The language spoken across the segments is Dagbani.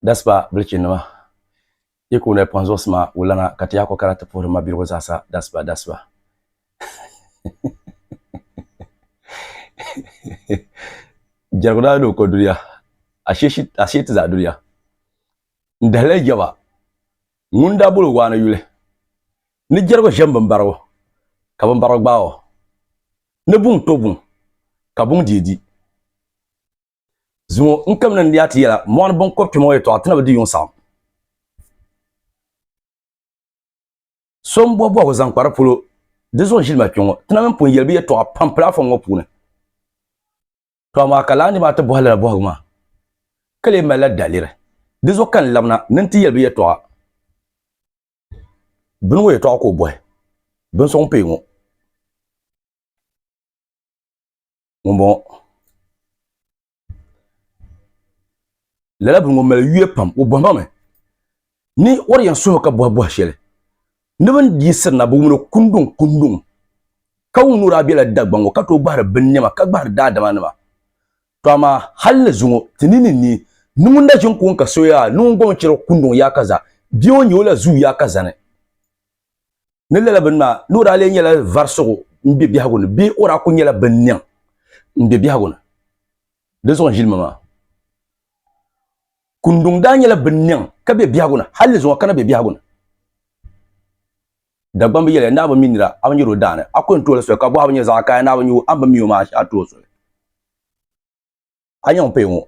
Daspa bilichinima yi kuuni pɔn zuɣusima wulana ka ti yaa kɔkara ti puhiri mabiligu zaasa daspa daspa. Jɛrigu daa doo ko duniya ashee ti zaa duniya n dahila yi jɛba ŋun daa boli waani yuli ni jɛrigu ʒe m bimbarigu ka bimbarigu gbaai o. Ni buŋ to buŋ, ka buŋ dii di. Zuŋɔ n kamina n-leei a ti yɛla, mɔɣuni biŋkɔb kpɛma ŋɔ yɛtɔɣa ti na bi di yuŋ saɣim. So m-bɔhi bɔhigu zaŋ kpa di polo, di zuɣu ʒili ma kpe ŋɔ. Ti na mini pun yɛli bɛ yɛtɔɣa pam pilaafɔm ŋɔ puuni. To amaa ka lala nir maa ti bɔhi lala bɔhigu maa, ka lee malila daliri. Di zuɣu ka n labina ni n ti yɛli bɛ yɛtɔɣa. bini ŋɔ yɛtɔɣa ka o bɔhi bin sɔŋ pee ŋɔ ŋun bɔŋɔ lala bini ŋɔ mali yuya pam o bɔhima mi ni o di yɛn suhi o ka bɔhi bɔhi shɛli ni bini yiɣisiri na bi wuni o kunduŋ kunduŋ ka wum ni o daa bɛla Dagbaŋ ŋɔ ka tooi gbahiri bin niɛma ka gbahiri daadama nima. To amaa hal ni zuŋɔ ti ni ni ni ni ŋun na ʒin kuŋ ka so yaa ni ŋun gɔŋ chɛro kunduŋ yaa ka za bia o ni nyɛ o la zuu yaa ka zani ni lala bini maa ni o daa lee nyɛla varisigu m-be biɛhigu ni bee o daa kul nyɛla binniŋ m-be biɛhigu ni. Di zuɣu n-ʒili ma maa. Kunduŋ daa nyɛla binniŋ ka be biɛhigu ni hal ni zuŋɔ ka na be biɛhigu ni. Dagbamba yɛliya, Ni a bi mi nira, a bi nyari o daani. A kul ni tuhi li soli, ka bɔhibu nyɛ zaɣ kaya ni a bi nyu, a ni bi mi o maa a tuhi o soli. A nya ŋun paya ŋɔ?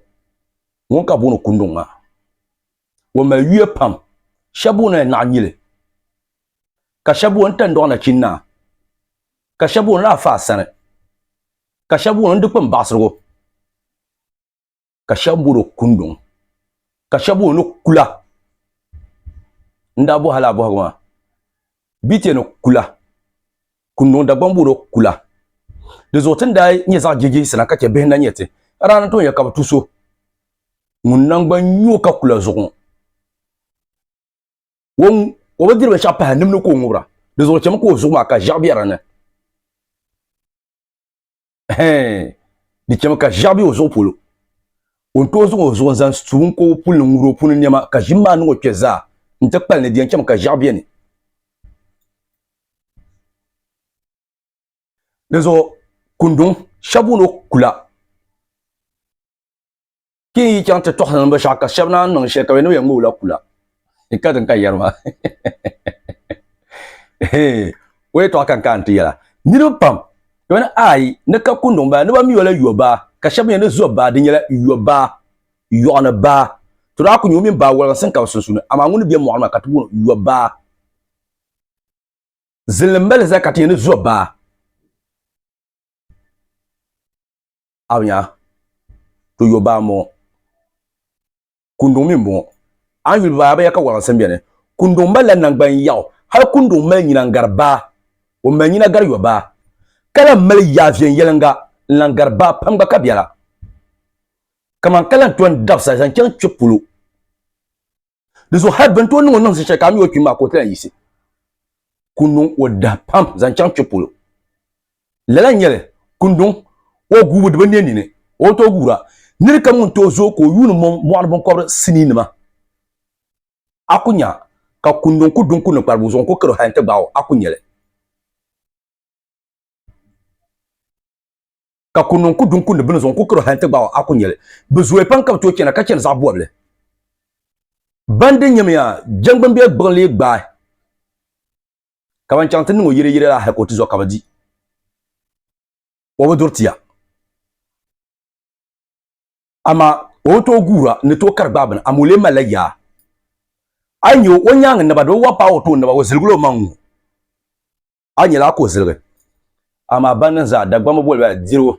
Ŋun ka bɛ booni Kunduŋ maa. O mali yuya pam. Shɛb booni li Naɣinyili, ka shɛb booni Tandɔɣu Nachinnaa, ka shɛb booni li Afaasani, ka shɛb booni li Dikpini Baɣisirigu. ka shɛba bɔri o kunduŋ ka shɛba o ni kula n daa bɔhi lala bɔhigu maa bia ti yɛn ni kula kunduŋ Dagbaŋ bɔri o kula di zuɣu ti ni daa nyɛ zaɣi jihijihisi na ka chɛ bihi n na nyɛ ti a daa ni tooi yɛli ka bi tu so ŋun nangban nyɛ o ka kula zuɣu ŋɔ o bi diri binshɛɣu pahi nimdi ka o ŋubira di zuɣu chɛmi ka o zuɣu maa ka ʒiɛɣu bɛ di ni. hɛɛn di chɛmi ka ʒiɛɣu bɛ o zuɣu polo o ni tooi zaŋ o zuɣu zaŋ su n koobu puli ni ŋuri o puuni niɛma ka ʒim maa niŋ o kpɛ zaa n ti kpali ni di yɛn chɛmi ka ʒiɛɣu bɛ ni di zuɣu kunduŋ shɛba booni o kula ki n yi chaŋ ti tɔɣisi ni binshɛɣu ka shɛba naan niŋ shɛli ka bɛ ni bɛ yɛn ŋma o la kula. N ka din ka yɛri maa. O yɛtɔɣa ka n kaai nti yɛla. Niriba pam ka bɛ ni aai ni ka kunduŋ baa ni ba mi o la yɔbaa ka shɛba mi yɛn ni zɔbaa di nyɛla yɔbaa, yɔɣuni baa. To daa ku nya o mini baa waliginsi n-kabi sunsuuni amaa ŋuni be mɔɣu ni maa ka ti booni o yɔbaa. Zilli m-mali zali ka ti yɛn ni zɔbaa. awiya to yo baa m-bɔŋɔ kunduŋ mi m-bɔŋɔ a ni yuli baa abiya ka walansi beni kunduŋ malila naŋgban yaɣu hali kunduŋ mali nyina n-gari baa o mali nyina gari yo baa ka lan mali yaa viɛnyɛliŋga n-lan gari baa pam gba ka biɛla kaman ka lan ton dabisa zaŋ chaŋ kpe polo. di zuɣu hali bin tooi niŋ o niŋ zi shɛli ka a mi o kpim maa ka o tila yiɣisi ku niŋ o dahi pam zaŋ chaŋ kpe polo lala nyɛli kunduŋ o guubu di bi ne nini o bi tooi guura niri kam ŋun tooi zooi ka o yuuni mɔŋ mɔɣuni binkɔbiri sinii nima a ku nya ka kunduŋ ku duŋ ku ni kparibu zuɣu n ku kari o hali n ti gbaai o a ku nyɛli ka ku niŋ ku du n-kundi bini zuɣu n-ku karo hali nti gbaag o a ku nyɛli. Bɛ zooya pam ka bɛ tooi chana ka chani zaɣ bɔbili. Ban di nyamiya jɛŋgbuni bɛ gbuɣin lee gbaai ka ban chaŋ ti niŋ o yɛliyɛliya la hal ka o ti zɔri ka bɛ di o bi duri ti ya. Amaa o bi tooi guura ni tooi kari gbaai bini, amaa o lee malila yaa. A yi nya o, o nyaaŋa naba di bi waɣa paai o tooni naba, o ziligila o maŋ ŋ-ŋɔ. a yi nyɛla a ko ziligi, amaa ban niŋ zaa Dagbamba boli ba dirigu.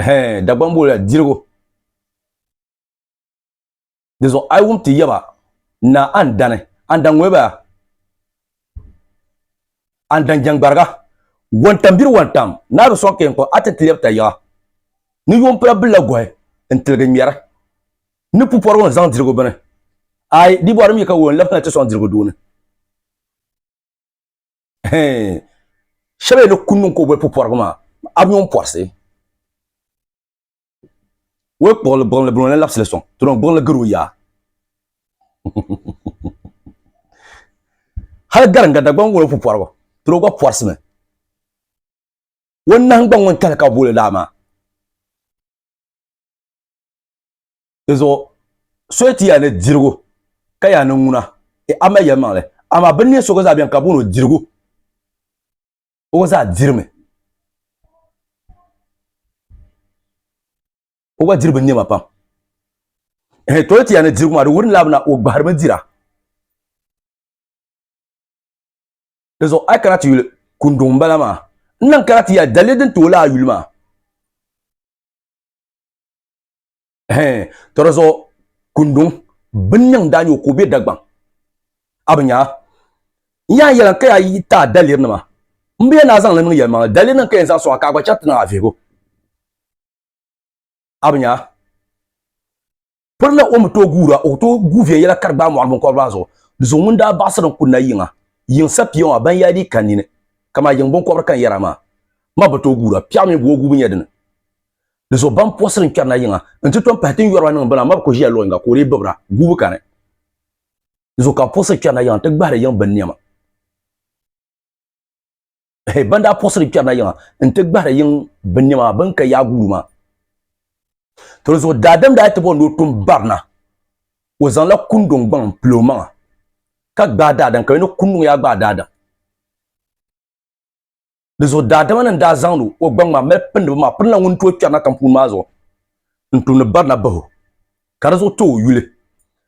Hɛɛn, Dagbamba boli ba dirigu. Dinzuɣu a yi wum ti yɛba, Naa a ni dani, a ni dan ŋoli ba, a ni dan jɛŋgbariga, wɔntam biri wɔntam, naa bi sɔŋ ka yɛn kɔŋ a ti ti lɛbi ta yiɣa, ni yuŋ pula bilila gɔhi n-tiligi ŋmɛri. Ni pupɔrigu ni zaŋ dirigu bini. Aai, di bɔri mi ka wuhi n labisina ti sɔŋ dirigu duuni. Hee, shɛba yi ni ku niŋ ka o boli pupɔrigu maa, a bi nyo n pɔrisi. Wei kpuɣili gbuɣinli bini o ni labisili sɔŋ, ti noo gbuɣinli gari o yaa. Hali Garinga Dagbaŋ ŋun o pupɔrigu, ti noo gba pɔrisimi. O nahingbaŋ ŋun kahili ka bi booli laa maa. Di zuɣu soya ti yaa ni dirigu ka yaa ni ŋuna e a mali yɛlimaŋli, amaa bɛ ni neei so gba zaa beni ka booni o dirigu, o gba zaa dirimi. O gba diri binnɛma pam. Ehe, tooi ti yaa ni dirigu maa di wurinila bina o gbahirimi dira. Di zuɣu a yi kana ti yuli kunduŋ m-bala maa, n lahi kana ti yaa daliri din ti o laa yuli maa. hɛn tɔri zuɣu kunduŋ bin niŋ daa nyɛ o ka o bɛ Dagbaŋ a bi nyaa n yaa yɛla ka yaa yi taai daliri nima n bi yɛn naa zaŋli niŋ yɛlimaŋli daliri nim ka yɛn zaŋ sɔŋa ka a gba chɛri ti niŋ a vihigu a bi nyaa pirina o mi tooi guura o tooi gu viɛnyɛla ka di gbaai mɔɣili binkɔbiri maa zuɣu di zuɣu ŋun daa baɣasiri n kuli na yiŋa yiŋ sapiya maa ban yaa dii ka nini kaman yiŋ binkɔbiri ka n yɛra maa ma bi tooi guura piɛɣu mini bua gubu nyɛ dini Di zuɣu ban puɣisiri n-kpɛri na yiŋa nti tom pahi ti ni yɔri ba niŋ bini a ma bi ko ʒiya luɣ yiŋga ka o lee bibira guubu kani. Di zuɣu ka bɛ puɣisiri kpɛri na yiŋa nti gbahiri yiŋ bini nɛma. Ehe, ban daa puɣisiri kpɛri na yiŋa nti gbahiri yiŋ bini nɛma maa, bɛ ni ka yaai guulu maa. To di zuɣu daadam daa ti bɔri ni o tum bari na, o zaŋla kunduŋ gbaŋ m-pili o maŋa ka gbaai daadam ka yo ni kunduŋ yaa gbaai daadam. di zuɣu daadama ni daa zaŋdi o gbaŋ maa mali pindi bi maa pirina ŋun tooi kpɛri na tampuuni maa zuɣu n tumdi barina bahu ka di zuɣu tooi yuli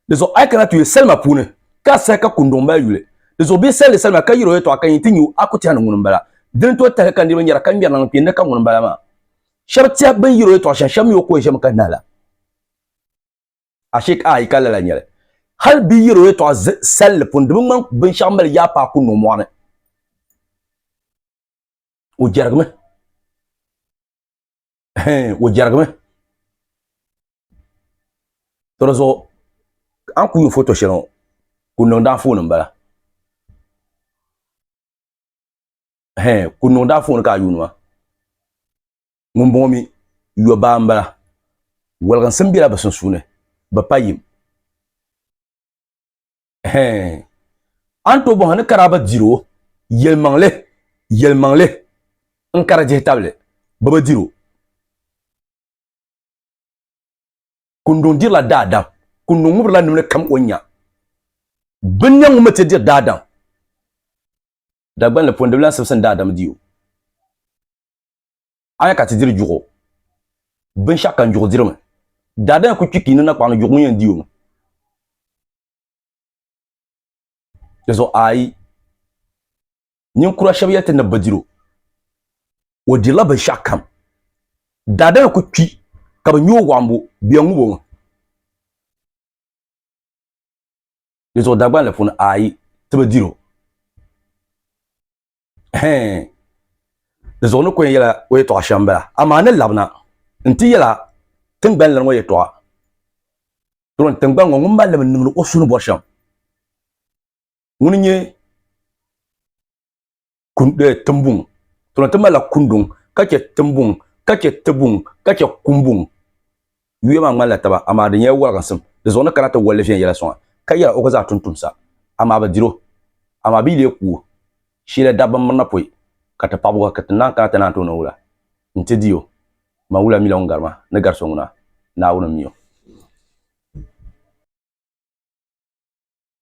di zuɣu a yi kana ti yuli salima puuni ka a sahi ka kunduŋ mali yuli di zuɣu bee salli salima ka yiri o yɛtɔɣa ka yi ti nyu a ku tɛha ni ŋuni n bala dini tooi tahili ka niriba nyɛra ka ŋmɛri niŋ kpɛ ni ka ŋuni n bala maa shɛba tɛha bin yiri o yɛtɔɣa shɛm shɛba mi o kɔhi ʒɛmi ka nahi la. Ashike a yi ka lala nyɛli. Hali bi yɛr o yɛtɔɣa salli pun di bi ŋmani binshɛɣu mali yaa paai ku niŋ mɔɣu ni. O jɛrigimi. Hɛɛn, o jɛrigimi. To di zuɣu a ni ku yuun foto shɛli ŋɔ, ku niŋdi anfooni m-bala. Hɛɛn, ku niŋdi anfooni ka a yuuni maa. ŋun bɔŋɔ mi yɔbaa m-bala. Waliginsim bela bɛ sunsuuni bɛ pa yim. Ɛhɛɛn! A ni tooi bɔŋ a ni kari a ba diri o yɛlimaŋli, yɛlimaŋli n-kari dihi tabili bɛ bi diri o. Kunduŋ dirila daadam, Kunduŋ ŋubirila nimli kam o ni nya. Binniɛŋ ŋun mi ti diri daadam, Dagbanli pɔndibila n-simsim daadam di o. a nya ka ti diri juɣu binshɛɣu ka n juɣu dirimi daadama ku kpi ka yi niŋ nakpaɣu ni juɣu ŋun yɛn di o mi di zuɣu ayi ninkura shɛba yɛliti ni bi diri o o dirila binshɛɣu kam daadama ku kpi ka bi nya o waɣimbu bɛ yɛn ŋubi o mi di zuɣu Dagbani la puuni ayi ti bi diri o Hɛɛn! Di zuɣu ni ko yɛn yɛla o yɛtɔɣa shɛm bala, amaa ni labina nti yɛla tiŋgbani lana ŋɔ yɛtɔɣa. Dɔn tiŋgbani ŋɔ ŋun mallim n-niŋdi o su ni bɔri shɛm, ŋuni n-nyɛ eh, Timbuŋ. Dɔn ti malila Kunduŋ, ka chɛ Timbuŋ, ka chɛ Tibuŋ, ka chɛ Kumbuŋ. Yuya maa ŋmanila taba, amaa di nyɛla wɔliginsim. Di zuɣu ni kana ti wolli viɛnyɛla soŋa, ka yɛra o ka zaa tumtumsa, amaa bi dir o. Amaa bɛ yi lee ku o, sheela dabba m-mirina pɔi, ka ti paɣibu gba ka ti naan kana ti naan ti o ni wula. Nti di o. Man wula m-mila ŋun gari ma, ni gari so ŋuna, Naawuni m-mi o.